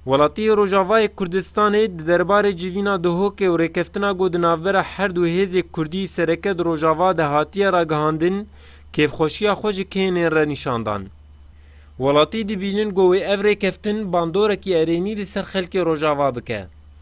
Welatî Rojavayê Kurdistanê di derbarê civîna Duhokê û rêkeftina ku di navbera her du hêzê Kurdî sereke di Rojava de hatiye ragihandin, kêfxweşiya xwe ji kênên re nîşan dan. Welatî dibînin ku wê ev rêkeftin bandorekî erênî li ser xelkê Rojava bike.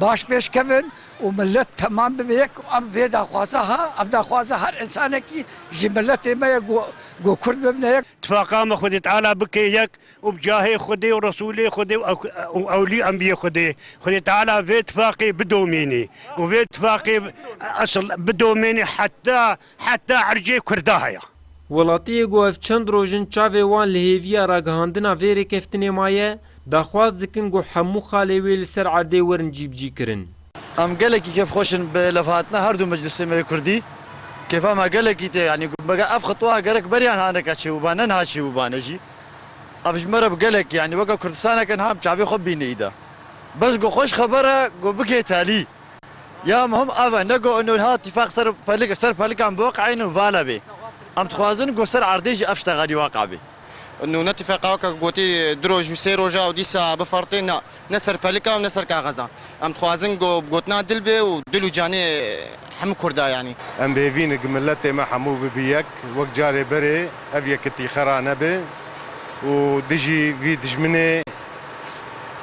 Baş pêş kevin û milet temam bibe yek û em vê daxwaza ha, ev daxwaza her însanekî ji miletê me ye ku ku kurd bibne yek. Tifaqa me Xwedê Teala bike yek û bi cahê Xwedê û Resûlê Xwedê û ewlî enbiyê Xwedê Xwedê Teala vê tifaqê bidomînî û vê tifaqê esl bidomînî heta Heta ercê Kurda heye. Welatiyê ku ev çend roj in çavê wan li hêviya ragihandina vê rêkeftinê maye, daxwaz dikin ku hemû xalê wê li ser erdê werin cîbicîkirin. Em gelekî kêfxweş in bi levhatina her du meclisê me yê kurdî. Kêfa me gelekî tê yanî ku mega ev xitwa gerek beriya niha neke çêbûba ne niha çêbûba ne jî. Ev ji me re bi gelekî yanî weke Kurdistaneke niha em çavê xwe bînî îda. Bes ku xweş xeber e ku bike telî. Ya muhim ev e ne ku nûrha tîfaq ser pelik ser pelikan biweq eyn û vale bê. Em dixwazin ku ser erdê jî ev şte xelî weqa bê. Nû ne tîfeqa weke ku gotî du roj û sê roja û dîsa bifertê na, ne ser pelika û ne ser kaxeza. Em dixwazin ku bi gotina dil bê û dil û canê hemû kurd a yanî. Em bêvîn ku miletê me hemû bibi yek wek carê berê ev yekitî xera nebe û dijî vî dijminê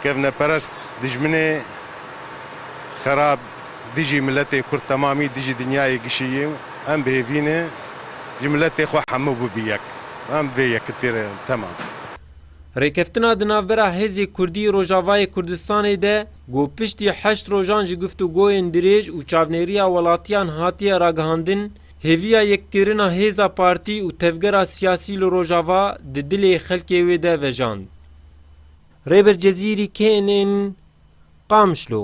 kevneperest dijminê, xerab dijî miletê kurd temamî dijî dinyayê gişiyî em bihêvîne ji miletê xwe hemû bûbî yek em vê yekitî re temam. Rêkeftina di navbera Hêzê Kurdî Rojavayê Kurdistanê de ku piştî heşt rojan ji guftugoyên dirêj û çavnêriya welatiyan hatiye ragihandin, hêviya yekkirina hêza partî û tevgera siyasî li Rojava di dilê xelkê wê de vejand. Rêber Cezîrî kên ên Qamişlo.